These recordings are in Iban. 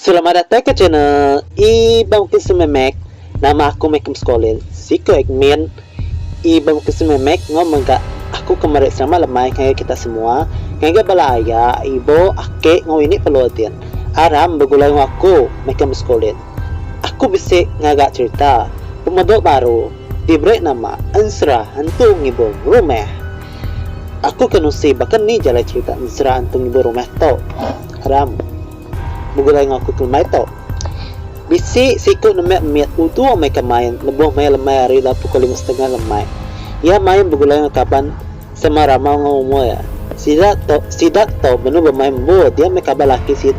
Selamat datai ke channel Ibang Bukit Sememek nama aku meh ke mskolil siko admin Ibang Bukit Sememek enggau mega aku ke meri selamat lemai ngagai kita semua ngagai bala aya ibu ake enggau ini pelua din aram begulai enggau aku meh ke mskolil aku bisi ngaga cherita pemedo baru diberi nama ensera entu ngibur rumah aku ke nusi baka ni jalai cherita ensera entu ngibur rumah tu aram. Begulai enggau aku kelemai tu. Bisi siku nembiak mit udu mega main lebuh maya lemai hari lalu pukul lima setengah lemai. Iya main begulai enggau kaban sama ramau enggau umur iya. Sida tu sida tu benung bemain embu dia meh kaban laki si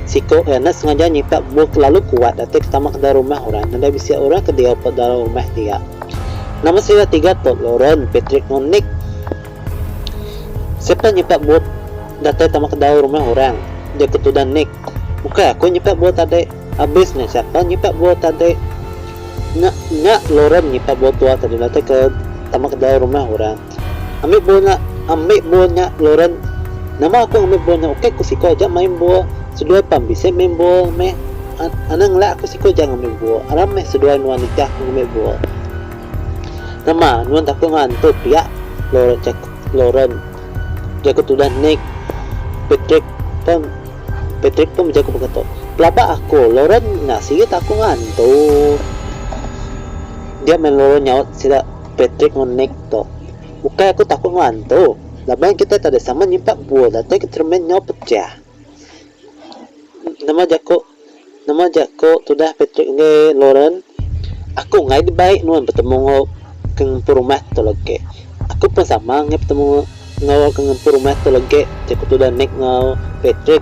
siku iya enda sengaja nyipak embu ke lalu kuat datai ke tama kedai rumah orang nadai bisi orang ke diau ba dalam rumah dia. Nama sida tiga tu Loren, Patrick enggau Nick. Siapa nyipak bup datai tama kedau rumah orang? jaku tudan Nick. Ukai aku nyipak bup tadi. Abis nya siapa nyipak bup tadi? Nya nya Lauren nyipak bup tua tadi datai ke tama kedau rumah orang. Ambi bup nya ambi bup nya Lauren. Nama aku ngambi bup nya ukai ku siko aja main bup. Seduai pam bisi main bup meh. Anang lak aku siko aja ngambi bup. Aram meh seduai nuan nikah ngambi bup. Nama nuan takut enggau hantu pia? Lauren jaku tudah Nick. Patrick pun Patrick pun bejaku baka tu. Pelaba aku, Lauren nya siyu takut enggau hantu. Dia meh Lauren nyaut sida Patrick enggau Nick tu. Ukai aku takut enggau hantu. Laban kitai tadi sama nyimpak buah datai ke cermin nyau pecah. Nama jaku Nama jaku tudah Patrick enggai Lauren? Aku enggai dibai nuan betemu enggau ke ngempu rumah tu legi. Aku pun sama enggai betemu enggau ke ngempu rumah tu legi, jaku tudah Nick enggau Patrick.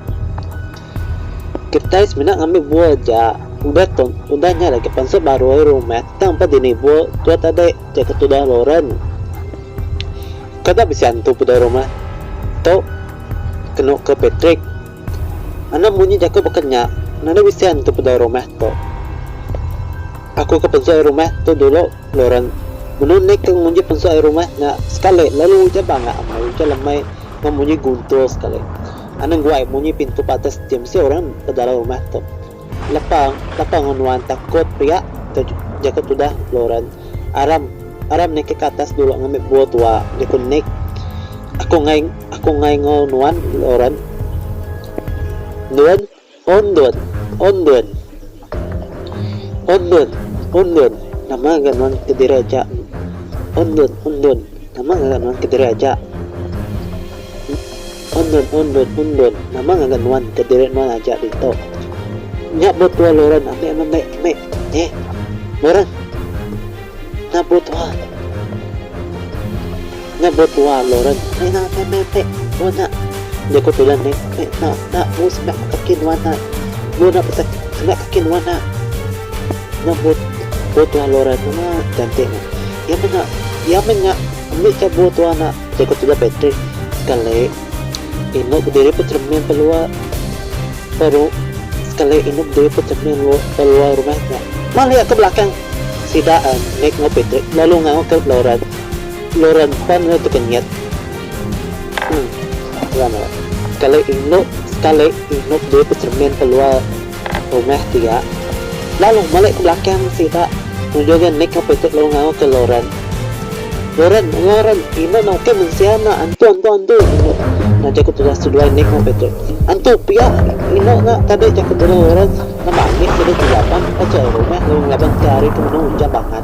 Kitai semina ngambi bua aja. Udah tu, udah nya lagi pansut barui rumah tang ba dini bua tu tadi, jaku tudah Lauren. Kada bisi antu peda rumah tu, kenu ke Patrick. Anak munyi jaku baka nya, nadai bisi antu peda rumah tu. Aku ke pensut ari rumah tu dulu, Loren. Menu nek ke nguji pensut ari rumah nya sekali lalu ujan banga amai, ujan lemai enggau munyi guntur sekali. Anang guai munyi pintu patas ti mesti orang bedalau rumah tu. Lapa lapa enggau nuan takut riak ke jaku tudah Lauren aram aram niki ke atas dulu ngambi bua tua jaku Nick aku ngai aku ngai enggau nuan Lauren endun oh endun oh endun oh endun oh endun nama ga nuan kediri aja oh endun oh endun nama ga nuan kediri aja. Undon, undon, undon, nama ngaga nuan ke diri nuan aja ditu? Nya buh tua Loren ambi amat meh, meh, eh, Loren. Nya buh tua. Nya buh tua Loren, meh nya, meh, meh, meh, buh nya. Nya ku Pilan meh, meh, nya, nya buh semeh kaki nuan nya. Buh nya pesa semeh kaki nuan nya. Nya buh, buh tua Loren, nama ganti nya? Ya meh nya, ya meh nya, ambi ka buh tua nya. Jaku tudah Patrick, sekali inuk bediri pecermin pelua peru sekali inuk bediri pecermin pelua rumah nya. Malik ke belakang sida Nick enggau Patrick lalu ngau ke Lauren. Lauren pan enda tekenyit. Sekali inuk sekali inuk bediri pecermin pelua. Rumah pia. Lalu melek ke belakang sida nunjung iya mik ngapi ti lu ngau ke Loren. Loren, Loren, ina enggau ke mensia enda antu antu antu inu na jaku tudah seduai mik ngapi tu. Antu pia inu na tadi jaku tudah Loren nambah mik sida ti laban pecai rumah lalu ngelaban ke hari ke menu ujan bangat.